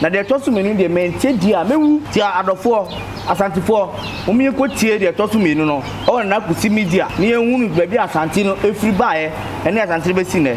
Na deɛ ɛtɔ so mmienu deɛ, mantie die a, mɛwu. Nti adɔfoɔ, Asantefoɔ, momma yɛnkɔtie deɛ ɛtɔ so mmienu no wɔ Nana Kusi Media na yɛnhunu baabi a Asante no firi baeɛ ne Asante no bɛsi nnɛ.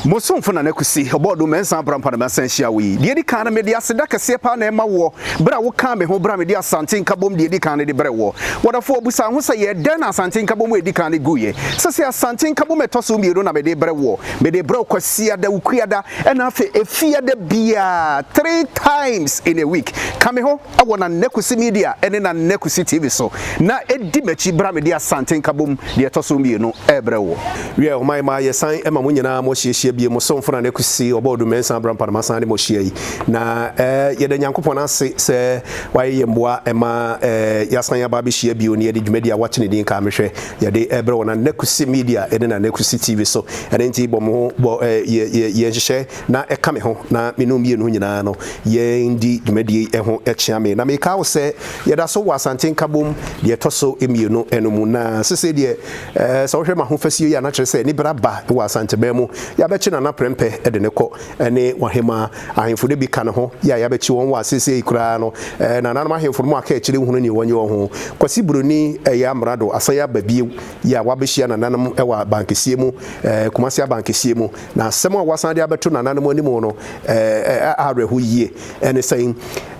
Bosomfo Nana Kusi, Ɔbɔɔdom, Mɛnsa abra mpa na masan ahyia wo yi. Deɛ ɛdi kan no, mede aseda kɛseɛ paa na ɛma woɔ berɛ a wokaa me ho berɛ a mede Asante Nkabom deɛ ɛdi kan no de brɛɛ woɔ. W'adɔfoɔ, bisa wo ho sɛ, yɛɛ dɛn na Asante Nkabom a ɛdi kan no guiɛ? Sɛsei Asante Nkabom a ɛtɔ so mmienu na mede rebrɛ woɔ. Mede rebrɛ wo Kwasiada, Wukuada, Ɛna afei efia da biaa three times in a week ka me ho wɔ Nana Kwesi Media ne Nana Kwesi TV so na di m'akyi bra mede Asante Nkabom deɛ ɛtɔ so mmienu rebrɛ woɔ. Wiɛ homa yi ma yɛsan ma mo nyinaa mo hyiahyia bio, mo somfo Nana Kwesi Ɔbɔɔdu Mensah Abrampah na masan ne mo hyia yi. Na yɛda Nyankopɔn ase sɛ wayɛ yɛn mmoa ma yɛasan aba abɛhyia bio na yɛde dwumadi a wɔato ne din Kae Me Hwɛ Yɛde ɛbrɛ wɔ Nana Kusi Media ne Nana Kusi TV so. Ɛno nti bɔ mo bɔ ɛ yɛ yɛ yɛ nhyehyɛ na ɛka me ho na me ne mmienu nyinaa no yɛn di dwumadie yi ho kyea me. Na meka wo sɛ yɛda so wɔ Asante Nkabom deɛ ɛtɔ so mmienu no mu. Na sesei deɛ ɛɛ sɛ wohwɛ m'ahofasuo yi a na kyerɛ sɛ aniberɛ aba wɔ Asanteman mu. Yɛabɛkye Nana Prɛmpɛ de no kɔ ne W'ahemaa Ahemfo no bi ka ne ho yi a yɛabɛkye wɔn wɔ aseesei yi koraa no, ɛɛ, nananom ahemfo no mu akaakyire nhunu nea wɔnyɛ wɔ ho. Kwasi Buroni, ɛyɛ amrado, asan aba bio yi a wabehyia nananom wɔ abankɛseɛ mu, ɛɛ, Kumasi abankɛseɛ mu, na asɛm a wasan de abɛto nananom anim no, ɛɛ, ɛyɛ awerɛho yie. Ɛne sɛn?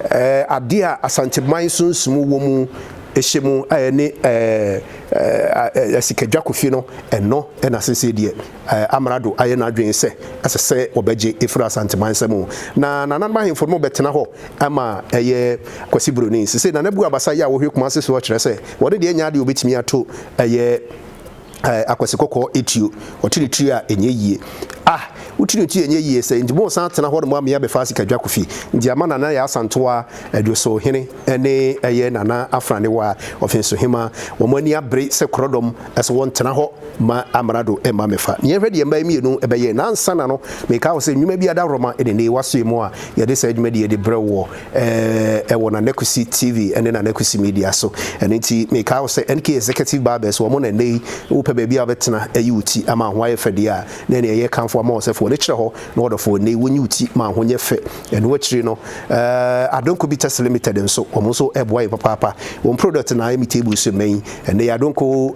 Ɛɛ, adeɛ a Asanteman sunsum wɔ mu hyɛ mu a ɛne, ɛɛ, ɛɛ, ɛɛ, Asikadwa Kofi no, ɛno na aseesei deɛ. Amrado ayɛ n'adwene sɛ ɛsɛ sɛ wɔbɛgye afiri Asanteman nsam o. Na nananom ahemfo no bɛtena hɔ ma ɛyɛ Kwasi Broni. Sesei Nana Abu Abasa yi a ɔhwɛ Kumasi soɔ kyerɛ sɛ ɔno deɛ ɛnyɛ adeɛ a ɔbɛtumi ato ɛyɛ Akwasi Kɔkɔɔ atuo. Ɔte ne tiri a ɛnyɛ yie. Ah! Wote ne tiri a ɛnyɛ yie sɛ nti moresan atena hɔ nom amea bɛfa Asikadwa Kofi nti ama Nana ayɛ Asantewa adwosohene. ne ɛyɛ Nana Afranewa, Ɔfensohema, wɔn ani abere sɛ korɔdɔm sɛ wɔntena hɔ ma Amrado mma mmɛfa. Na yɛnhwɛ deɛ mmaa yi mmienu bɛyɛɛ. Na ansa na no, mekae wɔ sɛ nnwuma bi adaworoma ne nnee w'asoɛ mu a yɛde saa dwumadie yi de brɛ wo wɔ eh, wɔ Nana Kwesi TV ne Nana Kwesi Media so. Ɛno nti mekae wɔ sɛ NK Executive Barbers wɔn na nnɛ yi wopɛ baabi a wobɛtena ayi wo ti ama ho ayɛ fɛ deɛ a, na ɛne ɛyɛ kamfo ama wɔ sɛ fa w'ani kyerɛ hɔ na wɔdɔfoɔ nnɛ yi wonyi wo ti ma ho nyɛ fɛ. Ɛno akyiri no, Adonko Bitters Limited nso, wɔn nso boa yɛn papaapa. Wɔn product na Amy Table so mmɛn yi. Ɛnnɛ yi Adonko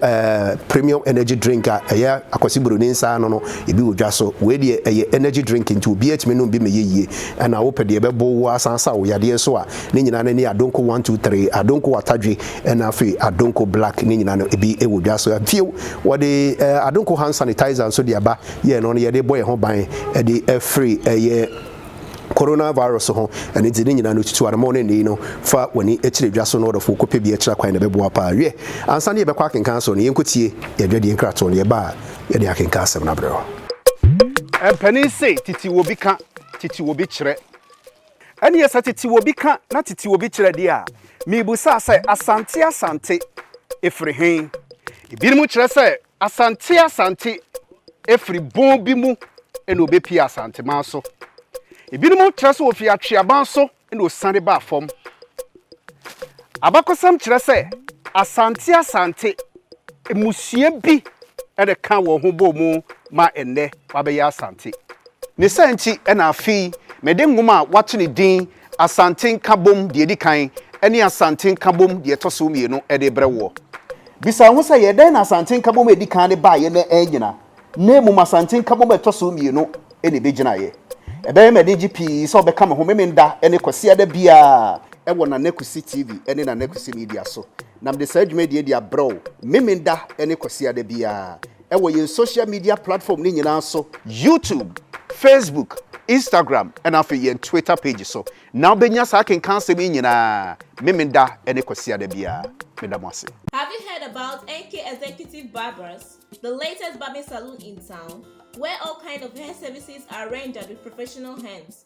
Premium Energy Drink a ɛyɛ Akwasi Buroni nsa ano no, ebi wɔ dwa so. Wei deɛ ɛyɛ energy drink nti obiara tumi nom bi ma ɛyɛ yie. Ɛna wopɛ deɛ ɛbɛbow wo asan asa wo yadeɛ nso a, ne nyinaa no ne Adonko One Two Three, Adonko Atadwe ɛna afei Adonko Black ne nyinaa no ebi wɔ dwa so. Bio, wɔde Adonko Hand Sanitizer nso de aba. Yɛn no, ɔno yɛde bɔ yɛn ho ban de afiri ɛyɛ. Coronavirus ho anigye ne nyinaa no tutu anamɔn no nnɛyi no fa w'ani kyerɛ dwa so na ɔdɔfo kɔpɛ bi akyira kwan na ɛbɛboa paa. Wiɛ, ansa na yɛbɛkɔ akenkan asɔre no, yɛnkɔtie yɛn dwadie nkratoɔ no, yɛba a yɛde akenkan asɛm no abrɛ wo. Mpanin se tete wɔ bi ka, tete wɔ bi kyerɛ. Ɛneɛ sɛ tete wɔ bi ka na tete wɔ bi kyerɛ deɛ a, mebusa sɛ Asante Asante firi he? Ebinom kyerɛ sɛ Asante Asante firi bon bi mu na wɔbɛpie Asanteman so. Ebinom kyerɛ sɛ wɔfiri Atweaban so na wɔsiane baa fam. Abakɔsɛm kyerɛ sɛ Asante Asante mmusua bi na ɛkaa wɔn ho bɔɔ mu ma ɛnnɛ wɔabɛyɛ Asante. Ne saa nti na afei mede nwoma a wɔato ne din Asante Nkabom deɛ ɛdi kan ne Asante Nkabom deɛ ɛtɔ so mmienu de rebrɛ woɔ. Bisa wo ho sɛ, yɛ dɛn na Asante Nkabom a ɛdi kan no baeɛ na annyina, na mmom Asante Nkabom a ɛtɔ so mmienu na ɛbɛgyinaeɛ? Ɛbɛyɛ me anigye pii sɛ wobɛka me ho Memenda ne Kwasiada biara wɔ Nana Kwesi TV ne Nana Kwesi Media so, na mede saa dwumadie yi de abrɛ wo Memenda ne Kwasiada biara. wɔ yɛn social media platform no nyinaa so, YouTube, Facebook, Instagram ɛna afei yɛn Twitter page so na wobɛnya saa akenkan asɛm yi nyinaa Memenda ne Kwasiada biara. Meda mo ase. Have you heard about NK Executive Barbers, the latest barbing saloon in town, where all kind of hair services are rendered with professional hands.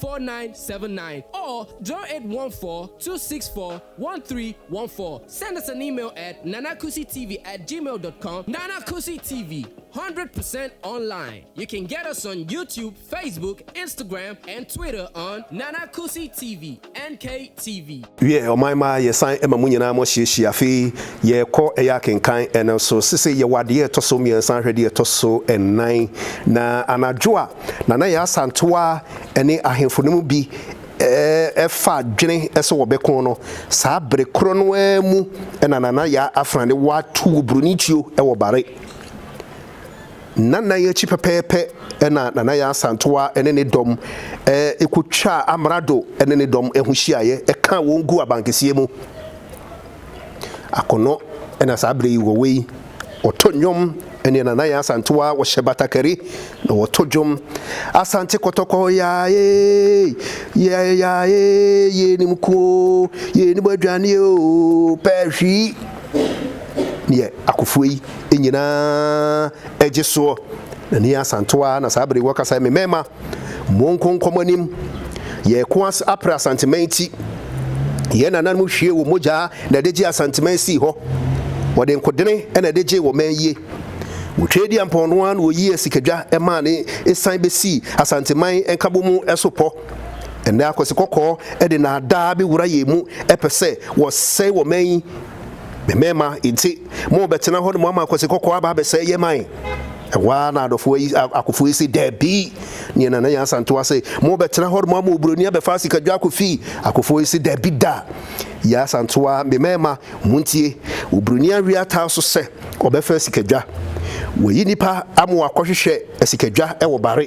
4979 or 0814-264-1314. Send us an email at nanakusitv at gmail dot com Nana Kusi TV, 100 percent online. You can get us on YouTube, Facebook, Instagram and Twitter on Nana Kusi TV, NKTV. Wiɛ ɔman ma yɛ san ma mo nyinaa mo hyehyɛ afei yɛ kɔ yɛ akenkan ɛno so sese yɛ wɔ adeɛ ɛtɔ so mmiɛnsa ahwɛ deɛ ɛtɔ so ɛnan na anadwo a na na yɛ asantewa ɛne ahenfo no mu bi ɛfa adwene ɛsɛ wɔ bɛko no saa bere korɔ no ara mu ɛna nana yɛ afrane wɔ ato wɔ broni tuo ɛwɔ bare. Nnanan akyi pɛpɛɛpɛ na Nana Yaa Asantewaa ne ne dɔm kɔtwaa Amrado ne ne dɔm ho hyiaeɛ kaa wɔn guu abankɛseɛ mu. Akɔnnɔ na saa berɛ yi wɔwɔ yi. Wɔto nnwom ne Nana Yaa Asantewaa, wɔhyɛ batakari na wɔto dwom. Asante kɔtɔkɔ yaa ee, yɛɛ yaa ee, yɛnim ko oo, yɛnim aduane oo, pɛɛ hwii. ne yɛ akofoɔ yi nyinaa gye soɔ. Na ne yɛ Asantew ara na saa bere yi wɔkasa yi, me mmarima, monko nkɔ mo anim. Yɛreko as apere Asanteman ti. Yɛn nananom hwiee wɔn mogya na ɛde gyee Asanteman sii hɔ. Wɔde nkodene na ɛde gyee wɔmanyie. Wɔtwaa Adiampɔn no ara na wɔyii asikadwa maa no san bɛsii Asanteman Nkabom so pɔ. Ɛnnɛ akwasi kɔkɔɔ de nnaadaa bi wura yɛn mu pɛ sɛ wɔsɛe wɔ man yi. Me mmarima enti mo bɛtena hɔ nom ama akwasi kɔkɔɔ aba abɛsɛe yɛn man? Ɛhɔ ara na adɔfoɔ yi akofoɔ yi se dabi. Neɛ Nana Yaa Asantewa se mo bɛtena hɔ nom ama oburoni abɛfa asikadwa akɔ fii. Akofoɔ yi se dabi da. Yaa Asantewa, me mmarima montie. Oburoni awe ataa so sɛ ɔbɛfa asikadwa. Wayi nipa ama wakɔhwehwɛ asikadwa wɔ bare.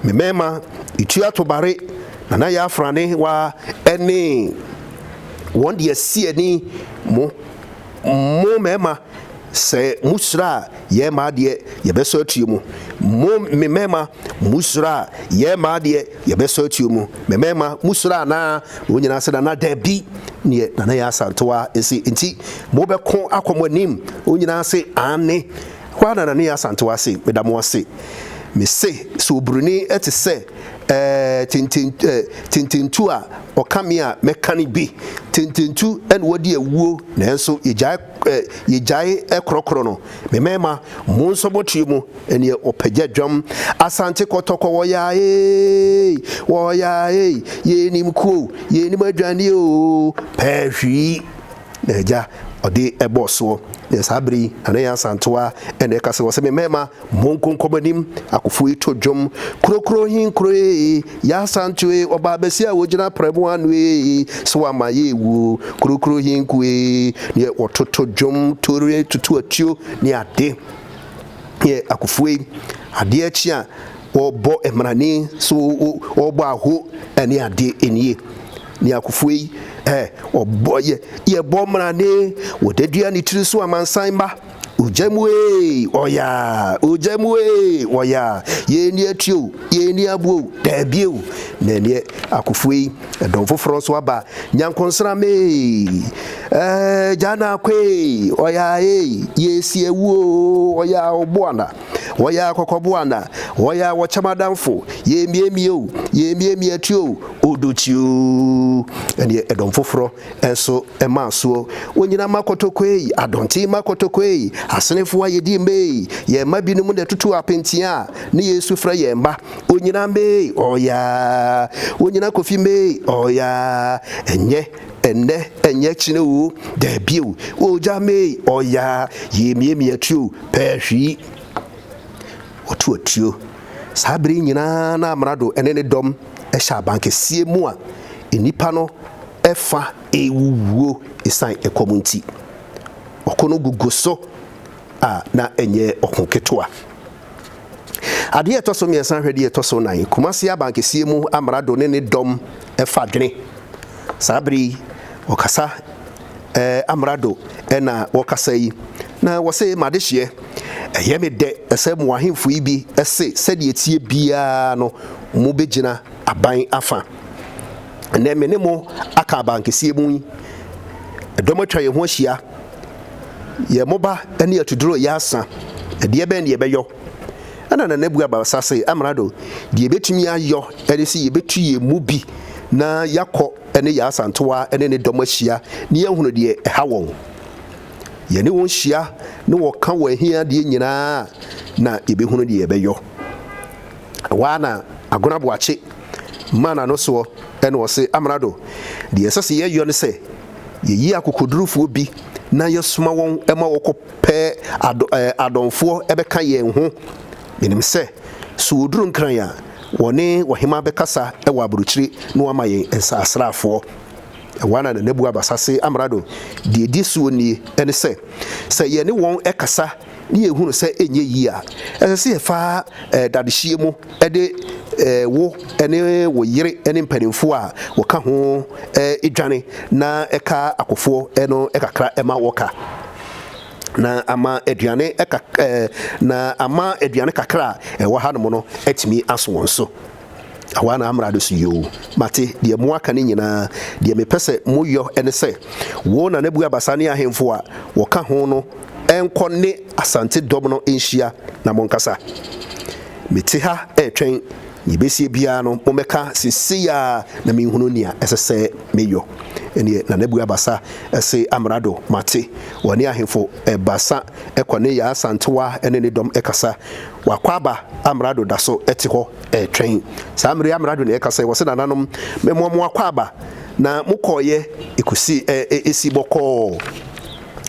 Me mmarima tua tobare, na na yɛafra ne wa ne wɔn de asi ani. Mo, mo mmarima, sɛ mohyira a, yɛn mmaa deɛ, yɛbɛsɔ atuo mu. Mo, me mmarima, mohyira a, yɛn mmaa deɛ, yɛbɛsɔ atuo mu. Me mmarima, mohyira anaa? Wɔn nyinaa sɛ, Nana, dabi. Neɛ Nana Yaa Asantewaa se, Enti mobɛko akɔ mo anim? Wɔn nyinaa se, Aane. Hɔ ara na Nana Yaa Asantewaa se, Meda mo ase. Me se, sɛ oburoni te sɛ ɛɛ tenten ɛɛ tententu a ɔka me a, mɛka no bi. Tententu na wadi awuo nanso yɛgyae ɛɛ yɛgyae korɔkorɔ no. Me mmarima, monsɔ mo tiri mu ɛneɛ ɔpagya dwam. Asante kɔtɔkɔ wɔyaa eeii, wɔyaa eeii, yɛnnim kuo, yɛnnim adwaneɛ oo, pɛɛ hwii. Na agya ɔde bɔɔ soɔ, na saa berɛ yi Nana Yaa Asantewaa na ɛka sɛ, ɔse, Me mmarima, monko nkɔ mo anim, akofoɔ yi to dwom, Krokron he nkuro ee, Yaa Asantewaa ee, ɔbaa bɛseɛ a ɔgyina prɛmo ano ee, sɛ wamma yɛanwu oo, Krokron he nku ee, neɛ wɔtoto dwom, toreɛ, tutu atuo ne ade. Neɛ akofoɔ yi, adeɛ kye a wɔbɔ mmrane, so wɔbɔ aho ne adeɛ nie. Ne akofo ei, eh, ɔbɔ, yɛ, yɛbɔ mmara ne, wɔde dua ne tiri so amansan mma. Ogya mu ee, ɔyaa, ogya mu ee, ɔyaa, yɛn ni atie o, yɛn ni aboɔ o, daabie o. Na neɛ akofo ei, ɛdɔm foforɔ nso aba, nyankonsram ee, eh, gya na akɔ ee, ɔyaa ee, yɛsi awu o, ɔyaa, ɔboa na. Wɔyɛ ara kɔkɔbo ana? Wɔyɛ ara wɔkyɛ m'adamfo? Yɛremiamia o, yɛremiamia atu o, odo kyi o. Ɛnneɛ ɛdɔm foforɔ nso maa soɔ. Onyina mma kɔtɔkɔ ei, adɔnkye mma kɔtɔkɔ ei, asenefo a yɛdi mma ei, yɛn mma binom na ɛtutu apentea a ne yɛn su frɛ yɛn mma. Onyina mma ei, ɔɔyaa. Onyina Kofi mma ei, ɔɔyaa. Ɛnyɛ. ɛnnɛ ɛnyɛ kyene oo daabi o Ogya mee ɔyaa yee miemi atuo pɛɛ hwii Ɔto atuo Saa bere nyinaa na Amrado ne ne dɔm hyɛ abankɛseɛ mu a nnipa no fa rewuwuo ɛsiane ɛkɔm nti Ɔko no gugu so a na ɛnyɛ ɔko ketewa. Adeɛ a ɛtɔ so mmiɛnsa ahwɛ deɛ ɛtɔ so nan, Kumasi abankɛseɛ mu amrado ne ne dɔm fa dwene. Saa bere yi, wɔkasa eh, amrado na wɔkasa yi, na wɔse, M'adehyeɛ, ɛyɛ me dɛ sɛ mo ahemfo yi bi se sɛdeɛ ɛteɛ biara no mobɛgyina aban afa. Ɛnnɛ me ne mo aka abankɛseɛ mu yi, dɔm atwa yɛn ho ahyia. Yɛ moba ne atuduro yɛ asa, ɛdeɛ bɛn ne yɛbɛyɔ? Ɛna Nana bua Bawsa se, Amrado, deɛ yɛbɛtumi ayɔ ne se yɛbɛtu yɛn mu bi na yɛakɔ ne yɛn Asantewa ne ne dɔm ahyia na yɛahunu deɛ ɛha wɔn. Yɛne wɔn hyia ne wɔka wɔn ahiadeɛ nyinaa a, na yɛbɛhunu deɛ yɛbɛyɔ. Ɛhɔ ara na Agona Boakye maa n'ano soɔ na ɔse, Amrado, deɛ ɛsɛ se yɛyɔ ne sɛ, Yɛyi akokodurufoɔ bi na yɛsoma wɔn ma wɔkɔpɛ adɔ, ɛɛ, adɔnfoɔ bɛka yɛn ho. Menim sɛ, so wɔduru Nkran a, wɔne wɔhemaa bɛkasa wɔ aburokyire na wɔama yɛn nsasraafoɔ. Ɛwɔ a na Nana Buaba Sase Amrado deɛ ɛdi soɔ nie, ɛne sɛ, sɛ yɛne wɔn kasa ne yɛhunu sɛ ɛnyɛ yie a, ɛsɛ sɛ yɛfa dadehyeɛ mu de wo ne wo yere ne mpanimfoɔ a wɔka ho dwane na ɛka akofoɔ no kakra ma wɔka na ama aduane na ama aduane kakra a ɛwɔ hanom no atumi aso wɔn so. Ahoa na amra do so yoo. Mate deɛ mo aka no nyinaa. Deɛ mepɛ sɛ moyɔ ne sɛ, wo Nanabu Abasa ne ahemfo a wɔka ho no nkɔ ne Asante dɔm no nhyia na monkasa. Mete ha retwɛn nea ebesie biara no, mommɛka seesei ara na menhunu nea ɛsɛ sɛ meyɔ. Ɛnneɛ Nanabu Abasa se Amrado, Mate. Wɔne ahemfo baasa kɔ ne Yaa Asantewa ne ne dɔm kasa. W'akwaaba amrado da so te hɔ retwɛn. Saa mmere yi amrado na ɛka sɛ, Wɔse nananom, mɛmoa mo akwaaba, na mokɔeɛ kɔsi ɛ, esi bɔkɔɔ.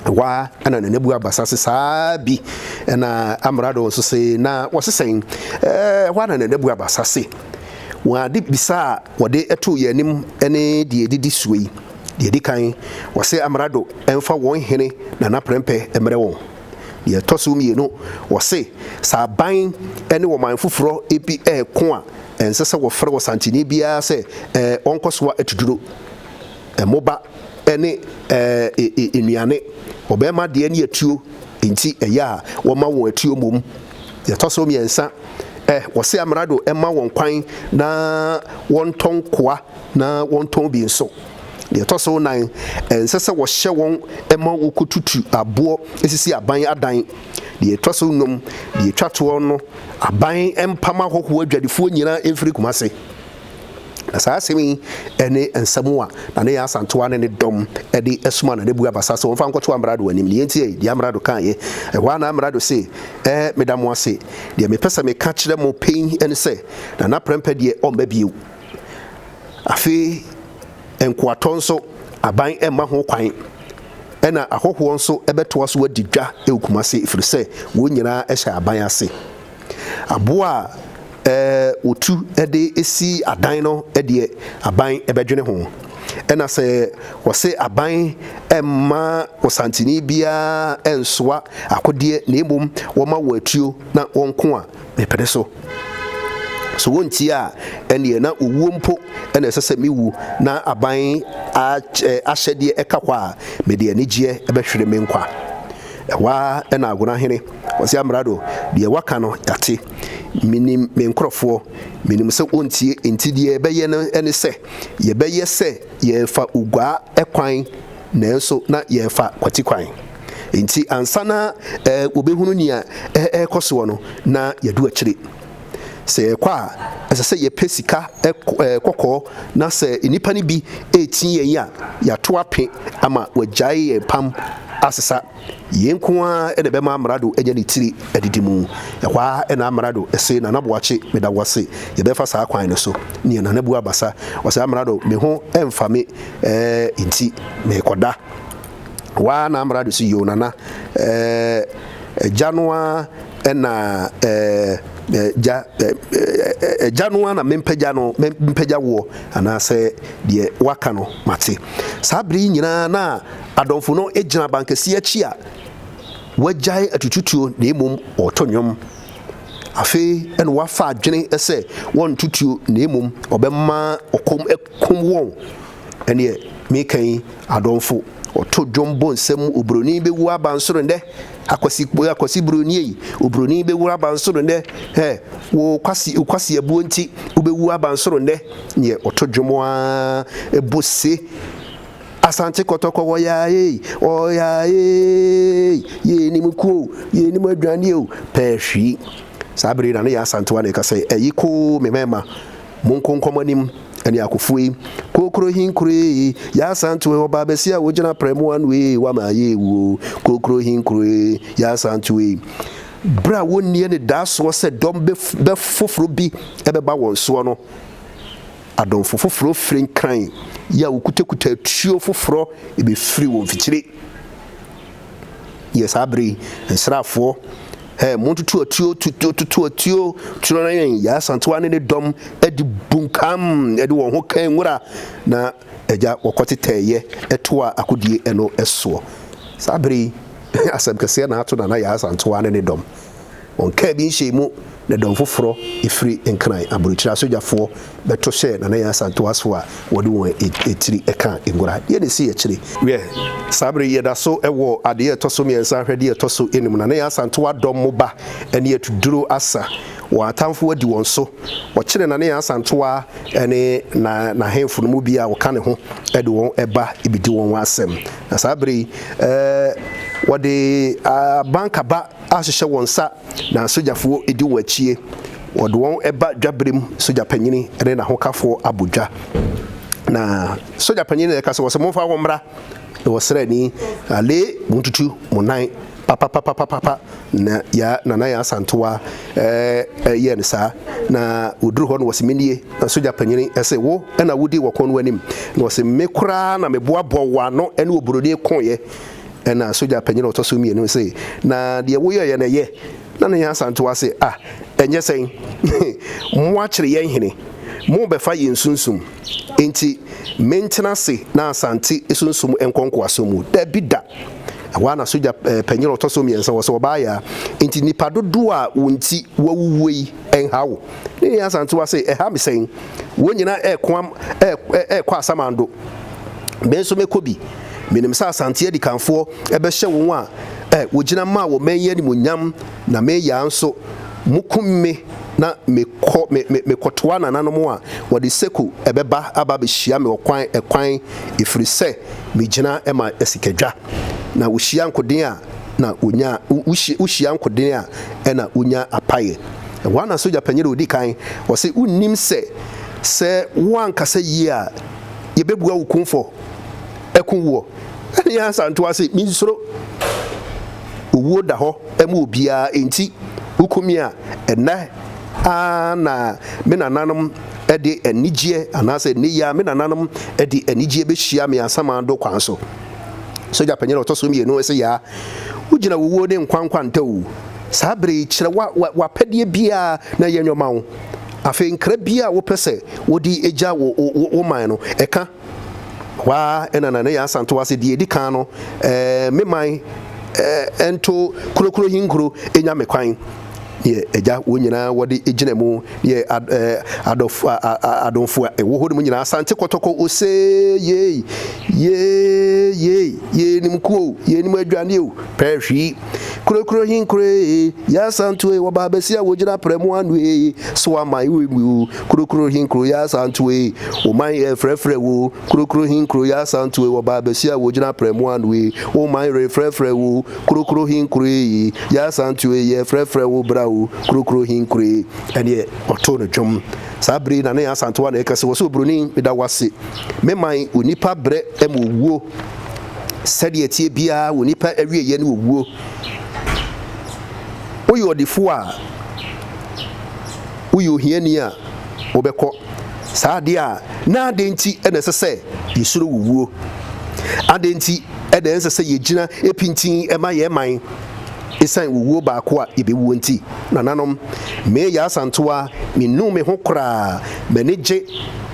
Ɛhɔ ara na nanabu aba sa se, Saa bi na amrado nso se, na wɔse sɛn? Ɛhɔ ara na nanabu aba sa se, Wɔn ade bisa a wɔde too yɛn anim ne deɛ ɛdidi soɔ yi. Deɛ ɛdi kan, wɔse amrado mfa wɔn hene nana prɛmpɛ mmrɛ wɔn. Nea ɛtɔ so mmienu, wɔse sɛ aban ne ɔman foforɔ bi reko a, ɛnsɛ sɛ wɔfrɛ Ɔsantini biara sɛ ɔnkɔ soa atuduro, mmoba ne nnuane. Ɔbarima deɛ ne atuo nti ɛyɛ a wɔma wɔn atuo mmom. Nea ɛtɔ so mmiɛnsa, wɔse Amerado mma wɔn kwan na wɔntɔ nkoa na wɔntɔn bi nso. Deɛ ɛtɔ so nan, ɛnsɛ sɛ wɔhyɛ wɔn ma wɔkɔtutu aboɔ sisi aban adan. Deɛ ɛtɔ so nnum, deɛ ɛtwa toɔ no, aban mpam ahɔhoɔ adwadifoɔ nyinaa mfiri Kumase. Na saa asɛm yi ne nsɛm a Nana Yaa Asantewaa ne ne dɔm de soma Nana Abu Abasa sɛ wɔmfa nkɔto Amrado anim. Deɛ enti ei, deɛ Amrado kaeɛ. Ɛhɔ ara na Amrado se, Ɛɛ, meda mo ase. Deɛ mepɛ sɛ meka kyerɛ mo pɛn ne sɛ, Nana Prɛmpɛ deɛ ɔmma bio. Afei nkoatɔ nso, aban mma ho kwan, ɛnna ahɔhoɔ nso bɛtoa so adi dwa wɔ Kumasi, ɛfiri sɛ wɔn nyinaa hyɛ aban ase. Aboɔ a wɔtu de si adan no deɛ, aban bɛdwene ho. Ɛnna sɛ wɔse aban mma Ɔsanteni biara nsoa akodeɛ na mmom wɔma wɔn atuo na wɔnko a, mepene so. So wontie a, ɛnneɛ na owuo mpo na ɛsɛ sɛ mewu, na aban ahyɛdeɛ ɛka hɔ a, mede anigyeɛ bɛhwere me nkwa. Ɛhɔ ara na Agona hene, Ɔse Amrado, deɛ woaka no yɛate. Menim me nkorɔfoɔ, menim sɛ wɔntie, enti deɛ yɛbɛyɛ no ne sɛ, yɛbɛyɛ sɛ yɛrefa Oguaa kwan, Nanso na yɛrefa kwati kwan. Enti ansa na wɔbɛhunu nea ɛrekɔ soɔ no, na yɛadu akyire. Sɛ yɛrekɔ a, ɛsɛ sɛ yɛpɛ sika kɔkɔɔ, na sɛ nnipa no bi retie yɛn a, yɛato ape ama wɔagyae yɛn pam asesa. Yei nko ara na ɛbɛma Amrado anya ne tiri adidi mu. Ɛhɔ ara na Amrado se, Nana Boakye, meda wo ase. Yɛbɛfa saa kwan no so. Nea Nana bu abasa, ɔse, Amrado, me ho mfa me eh, enti merekɔda. Ɛhɔ ara na Amrado se, Yoo, Nana, eh, agya no ara na eh, gya gya no na mempagya no mpagya woɔ anaasɛ deɛ waka no mate saa bere yi nyinaa na Adɔmfo no gyina abankɛse akyi a wɔagyae atututuo na mmom wɔreto nnwom. Afei na wɔafa adwene sɛ wɔnto tuo na mmom wɔbɛma ɔkɔm akum wɔn. Ɛnneɛ meka yi, adɔmfo wɔto dwom bɔ nsam, oburoni bɛwu abansoro nnɛ, akwasi, akwasi buroni ei, oburoni bɛwu abansoro nnɛ, ɛ, wo kwasi, wo kwasi abuo nti, wobɛwu abansoro nnɛ. Neɛ wɔto dwom ara bɔ se. Asante kɔtɔkɔ wɔ yaa ei, wɔ yaa ei, yɛɛ nim kuo o, yɛɛ nim adwane o, pɛɛ hwii. Saa bere yi na ne yɛ Asantewa na ɛka sɛ, Ɛyi koo me mɛɛma, mo nko nkɔ mo anim, ɛne akofo ei, kookoro hin koro ei, yɛ Asantewa ei, ɔbaa bɛsi a wogyina prɛ mo ano ei, wama ayɛ ewu o, kookoro hin koro ei, yɛ Asantewa ei. Bere a wɔnni anidasoɔ sɛ dɔm bɛ foforo bi bɛba wɔn soɔ no, Adomfo foforo firi Nkran yi a wokutakuta atuo foforo befiri wɔ mfikyire yɛ saa bere yi nsraafoɔ Hey, montoto atuo, toto atuo, turo na yɛn, Yaa Santewa ne ne dɔm de bunkam de wɔn ho kan nwura na agya wɔkɔtetɛɛyɛ ɛtoa akodie ɛno ɛsoɔ. Saa bere yi, asɛm kɛseɛ na ato Nana Yaa Santewa ne ne dɔm. Wɔn kaa bi nhyɛɛ mu na dɔm foforɔ firi Nkran aburokyire asogyafoɔ bɛto hyɛɛ Nana Yaa Asantewasfoɔ a wɔde wɔn tiri ka ngora. Deɛ na ɛsii akyire. Wiɛ, saa berɛ yi yɛda so wɔ adeɛ a ɛtɔ so mmiɛnsa ahwɛ deɛ ɛtɔ so num. Nana Yaa Asantewa dɔm mu ba ne Atuduro Asa. Wɔn atamfoɔ adi wɔn so. Wɔkyere Nana Yaa Asantewa ne na n'ahemfo no mu biara a wɔka ne ho de wɔn ba bɛdi wɔn asɛm. Na saa berɛ yi, wɔde abankaba. ahyehyɛ wɔn nsa na asogyafoɔ di wɔn akyie. Wɔde wɔn ba dwaberem, sogya panyini ne n'ahokafoɔ abɔ dwa. Na sogya panyini na ɛka sɛ, wɔsɛ momfa wɔn mmra. Na wɔsrɛ ni, ale montutu mo nan papapapapapa. Na ya Nana Yaa Asantewa ɛɛ yɛɛ no saa. Na wɔduru hɔ no wɔsɛ menie. Na sogya panyini ɛsɛ wo na wodi wɔkɔn no anim. Na wɔsɛ me koraa na meboaboa wɔn ano ɛne oburoni koeɛ. Ɛnna sogya panyin a ɔtɔ so mmienu no se, Na deɛ woyɛeɛ no, ɛyɛ? Na ne yere san toaa se, Ah, ɛnyɛ sɛn? Moakyere yɛn hene, morebɛfa yɛn sunsum. Enti mentena ase na Asante sunsum nkɔ nkoasom mu? Dabi da! Ɛhɔ ara na sogya panyin a ɔtɔ so mmiɛnsa hɔ sɛ, Ɔbaa Yaa, enti nnipa dodoɔ a wo nti wɔawuwuo yi, ɛnha wo. Ne nua Asantewaa se, Ɛha me sɛn? Wɔn nyinaa reko am, rekɔ asamando. Me nso mɛkɔ bi. Menim sɛ Asante adikanfoɔ bɛhyɛ wɔn a wɔgyina maa wɔman yi animuonyam, na me yea nso, mokum me na mekɔ, me, me, mekɔtoa nananom a wɔde seko bɛba aba abɛhyia me ɔkwan, ɛkwan, ɛfiri sɛ megyina ma asikadwa. Na wɔhyia nkoden a, na onyaa wohyia wohyia nkoden a ɛna wonya apaeɛ ɛhɔ ana sogya panyin a odi kan ɔsɛ wonim sɛ sɛ woankasa yie a yɛbɛbua wo kumfɔ ɛko woɔ ɛne yɛ ansa ntoa se mensuro owuo da hɔ ɛma obiara enti wokumi a ɛnɛ ara na me nananom ɛde anigyeɛ anaasɛ ɛnɛ yi a me nananom ɛde anigyeɛ bɛhyia me asamando kwan so. Sogya panyin a ɔtɔ so mmienu se, Yaa, wogyina wuwuo ne nkwa nkwa ntawuu. Saa bere yi, kyerɛ w'apɛdeɛ biara na yɛnyɛ mma wo. Afei nkra biara a wopɛ sɛ wode gya wo wo man no, ɛka. Hɔ ara na Nanayaa Asantewaa se, Deɛ edi kan no, me man nto Kurokurohi nkuro nya me kwan. yɛ Agya, wɔn nyinaa wɔde gyina mu yɛ adɔfo a adomfo a ɛwɔ hɔ no mu nyinaa asante kɔtɔkɔ ose yei yei yei yei nim kuo yei nim adwane o pɛhwi kurokuro hin kure yɛ asanto e wɔba abɛsi a wɔgyina prɛ mu ano e so aman wɔ mu o kurokuro hin kuro yɛ asanto e wɔman yɛ frɛfrɛ wo kurokuro hin kuro yɛ asanto e wɔba abɛsi a wɔgyina prɛ mu ano e wɔman yɛ frɛfrɛ wo Krokrohin Kure yi, Y'asantew yi, Yɛfrɛfrɛ wo bra o, Krokrohin Kure yi. Ɛnneɛ ɔtoo no dwom. Saa bere yi na ne asantewa na ɛka sɛ, Ɔsoro Buroni, meda wo ase. Me man, onipa brɛ ma owuo. Sɛdeɛ ɛteɛ biara, onipa awieeɛ ne owuo. Woyɛ ɔdefoɔ a, woyɛ ohiani a, wobɛkɔ. Saa adeɛ a, na adɛn nti na ɛsɛ sɛ yɛsuro wo wuo? Adɛn nti? Ɛdɛn ɛnsɛ sɛ yegyina pintinn ma yɛn man esiane owuo baako a yɛbɛwuo nti? Nananom, me Yaa Asantewaa, mennuu me ho koraa. M'ani gye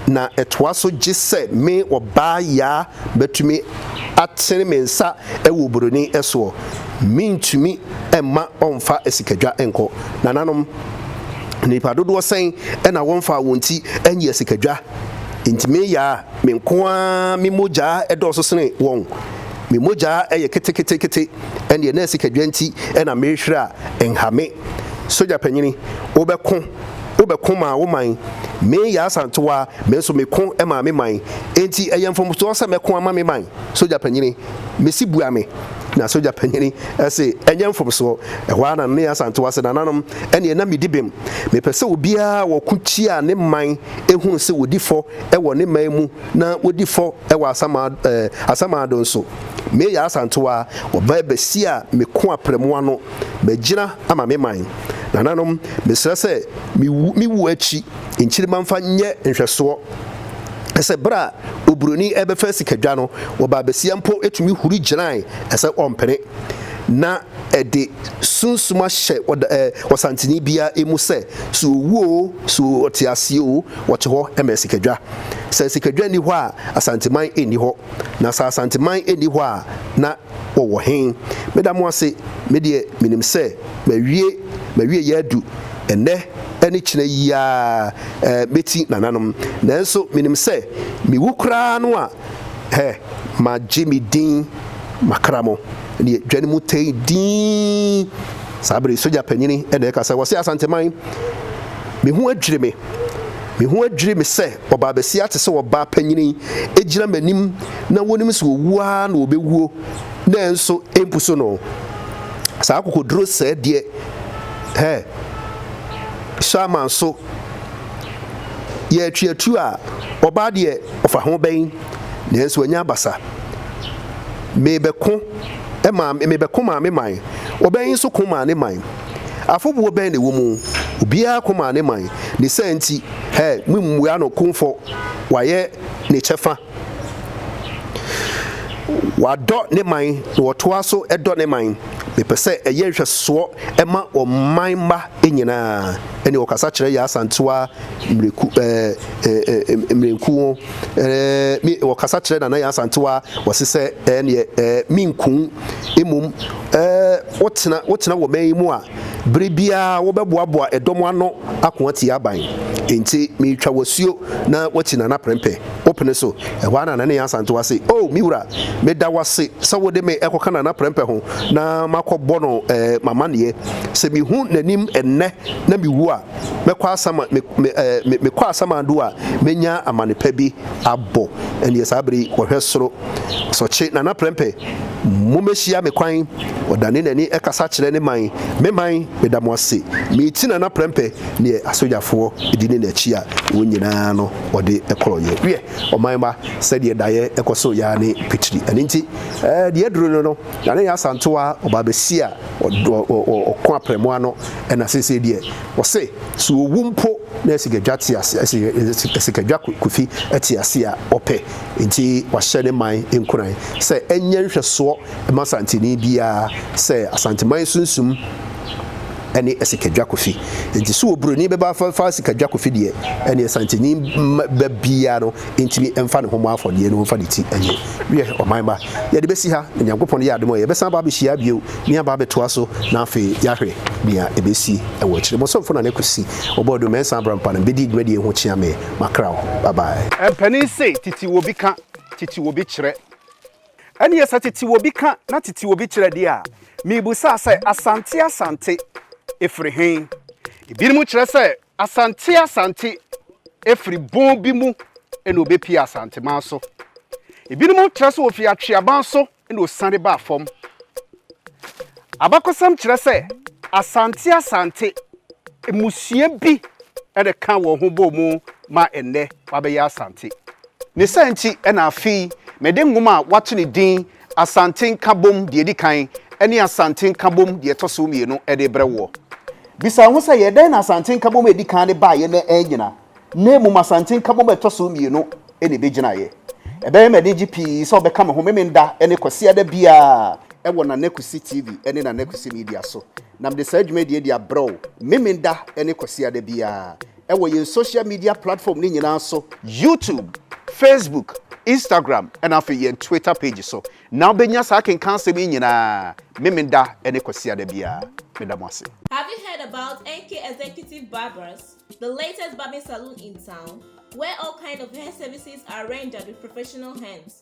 na ɛtoa so gye sɛ me Ɔbaa Yaa bɛtumi atene me nsa wɔ oburoni soɔ. Mentumi mma ɔmfa asikadwa nkɔ. Nananom, nnipa dodoɔ sɛn na wɔmfaa wɔn ti anyi asikadwa? Enti me Yaa, Me nko ara me mogya dɔɔso sene wɔn, me mogya yɛ keteketekete, ɛnneɛ na asikadwa nti na merehwere a, nha me. Sogya panyini, wobɛko, wobɛko maa wo man. Me yɛ asantewa, me nso meko maa me man. Enti ɛyɛ mfomsoɔ sɛ mɛko ama me man? Sogya panyini, mese bua me. Na sogya panyini se, ɛnyɛ mfomsoɔ. Ɛhɔ ara na ne asantewa se, nananom, ɛnneɛ na medi bem. Mepɛ sɛ obiara a ɔko tia ne man hunu sɛ ɔdi fɔ wɔ ne man mu na wodi fɔ wɔ asamado eh, asamado nso. Me yɛ asantewa, wɔba abɛsi a meko aprɛmo ano, magyina ama me man. Nananom, mesrɛ sɛ me wu, me wu akyi nkyirimma mfa nyɛ nhwɛsoɔ. Ɛsɛ berɛ a oburoni ɛbɛfa sikadwa no, wɔba abɛsia mpo tumi huri gyinae, ɛsɛ ɔmpene. Na. Ɛde sunsuma hyɛ ɔsantene biara mu sɛ, so ɔwu oo, so ɔte aseɛ oo, ɔte hɔ ma asikadwa. Sɛ asikadwa nni hɔ a, Asanteman nni hɔ. Na sɛ Asanteman nni hɔ a, na wɔwɔ he? Meda mo ase, me deɛ menim sɛ mawie, m'awieeɛ adu. Ɛnnɛ ne kyena yi ara mɛti nananom. Nanso menim sɛ mewu koraa no a, Hɛ, magye me din, makra mo, deɛ dwa no mu tei dinn. Saa bere yi, sogya panyini na ɛka sɛ, Wɔse Asanteman! Me ho adwiri me! Me ho adwiri me sɛ ɔbaa basia te sɛ ɔbaa panyini gyina m'anim na wonim sɛ ɔwuo ara na ɔbɛwuo nanso ɛmpusu no. Saa akokoduro sɛɛ deɛ, hɛ, Sherman so! yɛ atuatua a, ɔbaa deɛ ɔfa ho bɛn? Nanso wanya abasa. Mebɛko ma mebɛko maa me man. Ɔbaa yi nso ko maa ne man. Afobuo bɛn na ɛwɔ mu? Obiara ko maa ne man. Ne saa nti, hɛ, mommua no kumfɔ. Wayɛ ne kyɛfa. Wadɔ ne man, na ɔtoa so dɔ ne man. Mepɛ sɛ ɛyɛ nhwɛsoɔ ma ɔman mma nyinaa. Ɛnna ɔkasa kyerɛ Yaa Asantewaa mmireku ɛɛ ɛɛ ɛɛ mmirenku ho ɛɛ me ɔkasa kyerɛ Nana Yaa Asantewaa wɔse sɛ ɛɛ neɛ ɛɛ menku mmom ɛɛ wotena wotena wɔ man yi mu a Bere biara wobɛboaboa dɔm ano ako atia aban. Enti meretwa wo asuo na woakyi na na prɛmpɛ wopene so. Ɛhɔ ara na Nana Nyan Asantewaa se, O me wura, meda wo ase sɛ wode me rekɔka Nana Prɛmpɛ ho na makɔbɔ no m'amanneɛ. Sɛ mehu n'anim nnɛ na mewu a, Mɛkɔ asam a, me, me, eh, me, mekɔ asamado a, mɛnya amane pa bi abɔ. Ɛnneɛ saa bere yi, wɔhwɛ soro. Asɔkye, Nana Prɛmpɛ, mommɛhyia me kwan. Ɔdane n'ani kasa kyerɛ ne man. Me man, meda mo ase. Meti Nana Prɛmpɛ deɛ asogyafoɔ di ne n'akyi a, wɔn nyinaa no, ɔde korɔeɛ. Wiɛ, ɔman mma, sɛdeɛ daeɛ kɔ so yɛ ara ne pitiri. Ɛno nti, eh, deɛ aduru no no, Na ne yɛ Asantewaa a ɔbaa bɛsi a ɔko aprɛmo ano ɛna seesei deɛ ɔse sɛ ɔwu mpo na Asikadwa te ase Asikadwa Kofi te ase a ɔpɛ nti wahyɛ ne man nkuran sɛ ɛnyɛ nhwɛsoɔ mma Asanteni biara sɛ Asanteman sunsum ɛne Asikadwa Kofi nti sɛ Obroni bɛba abɛfa Asikadwa Kofi deɛ ɛneɛ Asanteni ba biara no ntumi mfa ne ho mmɔ afɔdeɛ no mfa ne ti nyɛ wiɛ ɔman ba yɛde bɛsi ha na nyankopɔn yɛ adom a yɛbɛsan aba abɛhyia bio ne aba abɛtoa so na afei yɛahwɛ nea ɛbɛsi ɛwɔ akyire bɔsomfo na ne kwasi ɔbɔ do mɛnsa abra mpa no bɛdi dwumadie ho kyea me makra wo bye bye. Mpanin se titi wobi ka, titi wobi kyerɛ. Ɛneɛ sɛ titi wobi ka na titi wobi kyerɛ deɛ a, mebusa sɛ Asante Asante ɛfiri hen? Ebinom kyerɛ sɛ Asante Asante firi bon bi mu na wɔbɛpue Asanteman so. Ebinom kyerɛ sɛ wɔfiri Atweaban so na wɔsiane baa fam. Abakɔsɛm kyerɛ sɛ Asante Asante mmusua bi na ɛkaa wɔn ho bɔɔ mu ma ɛnnɛ wɔabɛyɛ Asante. Ne saa nti na afei mede nwoma a wɔato ne din Asante Nkabom deɛ ɛdi kan ne Asante Nkabom deɛ ɛtɔ so mmienu de rebrɛ woɔ. Bisa wo ho sɛ, yɛ dɛn na Asante Nkabom a ɛdi kan no baeɛ na annyina, na mmom Asante Nkabom a ɛtɔ so mmienu na ɛbɛgyinaeɛ? Ɛbɛyɛ me anigye pii sɛ wobɛka me ho Memenda ne Kwasiada biara wɔ Nana Kwesi TV ne Nana Kwesi Media so, na mede saa dwumadie yi de abrɛ wo Memenda ne Kwasiada biara. wɔ yɛn social media platform no nyinaa so, YouTube, Facebook, Instagram ɛna afei yɛn Twitter page so na wobɛnya saa akenkan asɛm yi nyinaa Memenda ne Kwasiada biara. Meda mo ase. Have you heard about NK Executive Barbers, the latest barbing saloon in town, where all kind of hair services are rendered with professional hands?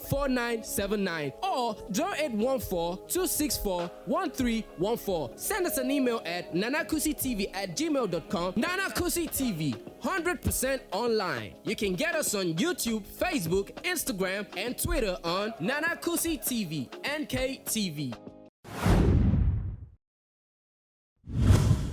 4979 or 0814-264-1314. Send us an email at nanakusitv at gmail dot com Nana Kusi TV, 100 percent online. You can get us on YouTube, Facebook, Instagram and Twitter on Nana Kusi TV, NKTV.